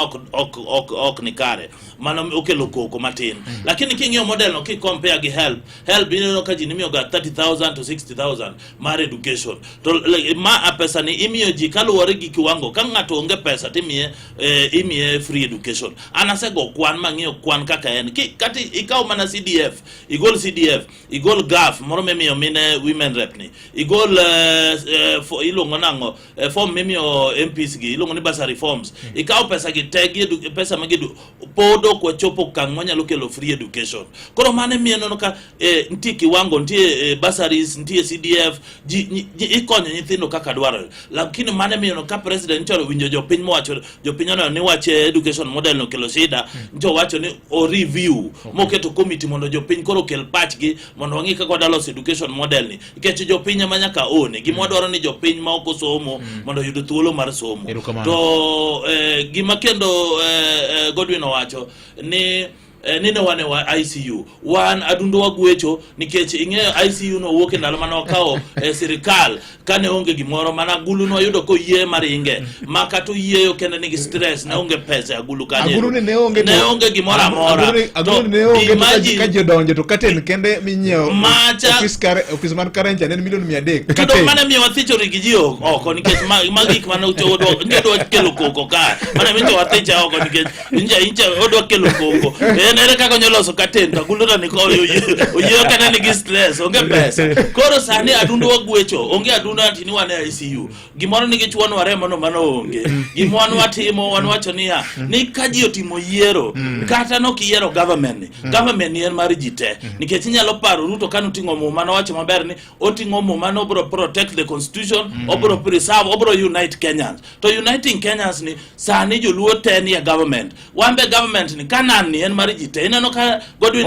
ok ok ok ok ni kare mano okelo koko matin lakini king'iyo model no kikompea gi help help ineno ka ji nimiyoga 30000 to 60000 mar education to like, ma a pesa ni imiyo ji kaluwore gi kiwango ka ng'ato onge pesa timiye eh, imiye free education an asego kwan mang'iyo kwan kaka en Ki- kati ikaw mana cdf igol cdf igol gaf moro mimiyo mine women rep ni igol eh, eh, fo- iluongo nang'o eh, form mimiyo MPs gi iluongo ni bursary forms mm. ikawo pesa gi te gi pesa ma gidu pod ok wachopo okang' manyalo kelo free education koro mane miyo neno ka eh, nitie kiwango nitie eh, bursaries nitie CDF ji, ji, ikonyo nyithindo kaka dwarore lakini mane miyo no ka president choro winjo jopiny mowacho jopiny oneno ni wach eh, education model no kelo shida mm. njo wacho ni o review okay. moketo committee mondo jopiny koro kel pachgi mondo wang'i kaka wadalos education model ni nikech jopiny ema nyaka one gima mm. wadwaro ni jopiny ma ok osomo mm. mondo oyud thuolo mar somo to eh, gima kendo eh, eh, Godwin owacho ni Eh, nine wane wa ICU wan adundo wagwecho nikech ing'eyo ICU no wuok e ndalo mane wakawo eh, sirikal kane onge gimoro mana gulu no wayudo koyie maringe maka to yieyo kendo nigi stress ne onge pesa e agulu kanyo agulu ni ne onge ne onge gimoro amora agulu ni ne onge imagine, ka jodonjo to katen kende minyiewo macha office kare office man karen cha ne milioni 300 katen to mana miyo wathicho rigi ji oko nikech magik mana ucho odwa nje dwa kelo koko ka mana miyo wathicha oko nikech nje nje odwa kelo koko en ere kaka nyoloso katen to agulu ni ko oyiyo kana nigi stress onge pesa koro sani adundu wagwecho onge adundu antini wane ICU gimoro ni gichwon waremo no mano onge mm. gimwan watimo wan mm. wacho niya mm. ni ka ji otimo yiero kata nok iyiero government ni government ni en mar ji te nikech inyalo paro ruto kane oting'o muma nowacho maber ni oting'o muma ni obro protect the constitution obro preserve obro unite kenyans to uniting kenyans ni sani joluo te ni e government wan be government ni kanan ni en mar ji te ineno ka godwin